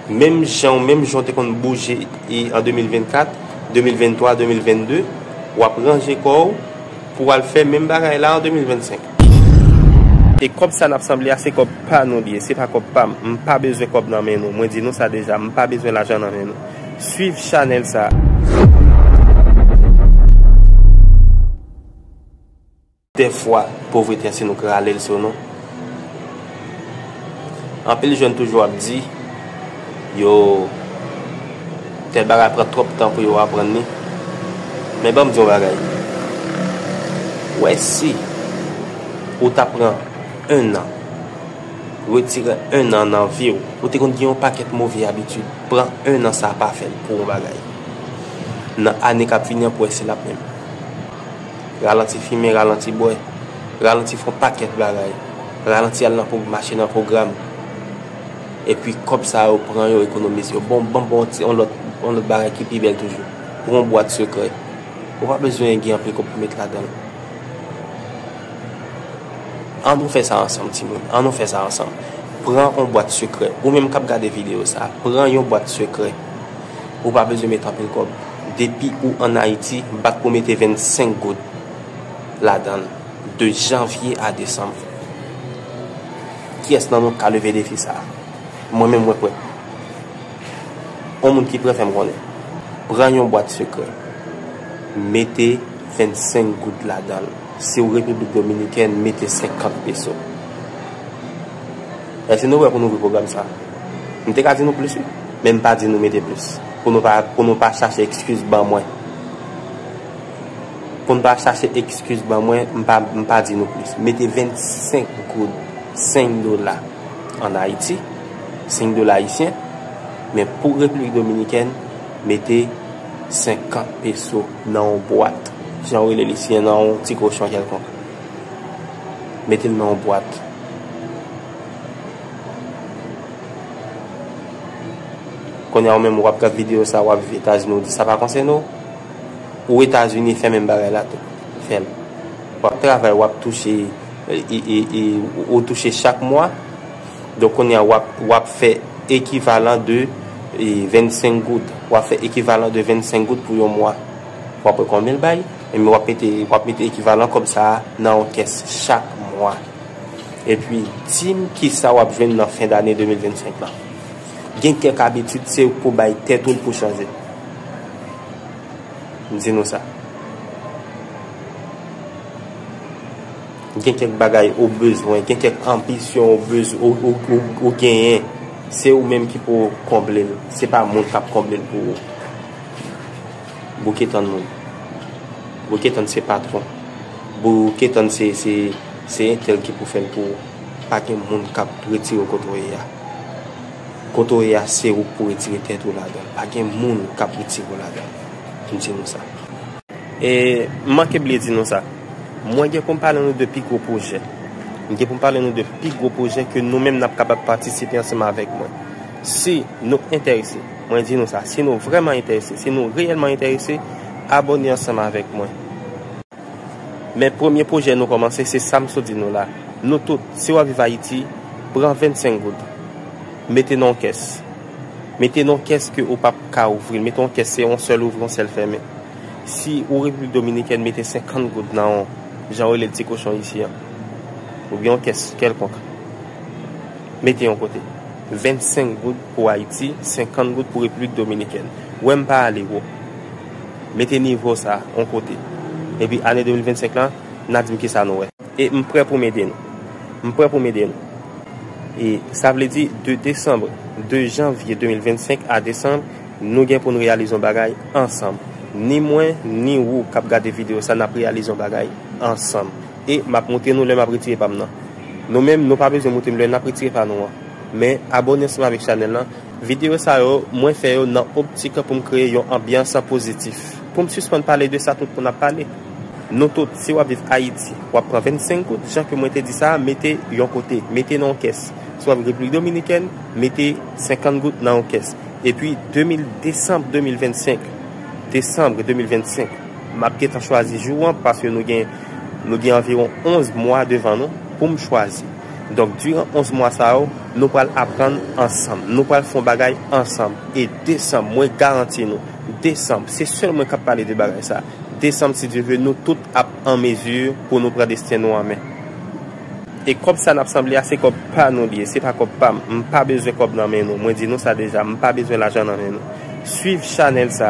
Menm janw menm janw te konn bouje en 2024, 2023, 2022 wap ranje kòw pouw al fè menm bagay la en 2025. E kòb sa nap sanble a se kòb pa nou li ye se pa kòb pam m pa bezwen kòb nan men nou mwen di nou sa deja m pa bezwen lajan nan men nou swiv chanèl sa. Dèfwa, povrete a si nou k rale l sou nou. Anpil jèn toujou ap di yo tèl bagay pran twòp tan pou yo aprann li. Men ban m di yon bagay. Wè si ou ta pran ennan, retire ennan nan vi w. Ou te konn gen yon pakèt move abitid. Pran ennan sa a pa fè l pou yon bagay. Nan ane k ap vini an pou wè si l ap menm. Ralanti fimen, ralanti bwè, ralanti fon pakèt bagay, ralanti al nan mache nan pwogram. Epi kòb sa yo pran yo ekonomize yo. Bon, banm ba w yon lòt bagay ki pi bèl toujou. Pou yon bwat sekrè, ou pa bezwen gen anpil kòb pou met ladan l. An nou fè sa ansanm timoun, an nou fè sa ansanm. Pran yon bwat sekrè. Ou menm k ap gade videyo sa a, pran yon bwat sekrè. Ou pa bezwen met anpil kòb. Depi ou an Ayiti, bat pou mete 25 goud ladan l de janvye a desanm. Kiyès nan nou k ka leve defi sa a? Mwen menm mwen prè. On moun ki prè fè m konnen. Pran yon bwat sekrè. Mete 25 goud ladan l. Si ou Repiblik Dominikèn, mete 50 peso. Èske nou prè pou n ouvri pwogram sa a? M te ka di nou plis wi, men m pa di nou mete plis, pou nou pa, pou nou pa chache ekskiz ban mwen. Pou n pa chache ekskiz ban mwen, m pa, m pa di nou plis. Mete 25 goud, 5 dola, an Ayiti, 5 dola ayisyen, men pou Repiblik Dominikèn, mete 50 peso nan yon bwat, jan yo rele li, siyen nan yon ti kochon kèlkonk. Mete l nan yon bwat. Kounye a ou menm ou ap gad videyo sa, ou ap viv Etazini, ou di sa pa konsène ou? Ou Etazini fè menm bagay la tou. Fè l. Ou ap travay, ou ap touche, ou touche chak mwa. Donk kounye a ou ap fè ekivalan de 25 goud. Ou ap fè ekivalan de 25 goud pou yon mwa. Ou ap wè konbyen l bay. Enben w ap mete w ap mete ekivalan kòb sa a nan yon kès chak mwa. Epi, di m kisa w ap jwenn nan fen dane 2025 lan. Gen kèk abitid se ou k pou bay tèt ou l pou chanje. M di nou sa. Gen kèk bagay ou bezwen, gen kèk anbisyon ou bez, ou, ou, ou, ou genyen. Se ou menm ki pou konble l. Se pa moun k ap konble l pou ou. Bouke tann moun. Bouke tann se patron. Bouke tann se se entèl ki pou fèl pou ou. Pa gen moun kap retire ou kote ou ye a. Kote ou ye a se ou k pou retire tèt ou ladanl. Pa gen moun kap retire ou ladanl. M di nou sa. E m manke bliye di nou sa. Mwen gen pou m pale nou de pi gwo pwojè. M gen pou m pale nou de pi gwo pwojè ke nou menm nap kapab patisipe ansanm avèk mwen. Si nou entèrese, mwen di nou sa, si nou vrèman entèrese, si nou reyèlman entèrese, abòne ansanm avèk mwen. Men premye pwojè nou kòmanse, se sa m sot di nou la. Nou tout, si w ap viv Ayiti, pran 25 goud, mete nan yon kès. Mete nan yon kès ke ou p ap ka ouvri l. Mete yon kès, se yon sèl ouvri, yon sèl fèmen. Si ou Repiblik Dominikèn, mete 50 goud nan yon, jan yo rele l ti kochon isi an. Oubyen yon kès kèlkonk. Mete yon kote. 25 goud pou Haiti 50 goud pou République Dominicaine wè m pa ale wo mete nivo sa on kote epi ane 2025 lan na dim kisa nou wè. E m prè pou m ede nou. M prè pou m ede nou. E sa vle di de Décembre de janvye 2025 a Décembre nou gen pou n reyalize on bagay ansanm ni mwen ni wou kap gade video sa nap reyalize on bagay ansanm e map moutre nou lè map retire pa m nan. Nou menm nou pa bezwen moute mlè nap retire pa nou an. Men abone ansanm avèk chanèl lan. Videyo sa yo mwen fè yo nan optik poum kreye yon anbyans pozitif. Poum sispann pale de sa tout moun ap pale. Nou tout si wap viv ayiti wap pran 25 goud jan ke mwen te di sa a mete yon kote. Mete nan yon kès. Si wap repiblik dominikèn mete 50 goud nan yon kès. Epi 2000 desanm 2025 desanm 2025. M ap gentan chwazi jou an paske nou gen nou gen anviwon 11 mwa devan nou pou m chwazi. Donk diran 11 mwa sa yo, nou pral aprann ansanm. Nou pral fè yon bagay ansanm. E desanm, mwen garanti nou, desanm, se sèl mwen k ap pale de bagay sa. Desanm, si Dye vle, nou tout ap an mezi pou nou pran desten nou an men. E kòb sa nap sanble a se kòb pa nou li ye se pa kòb pam m pa bezwen kòb nan men nou mwen di nou sa deja m pa bezwen lajan nan men nou swiv chanèl sa.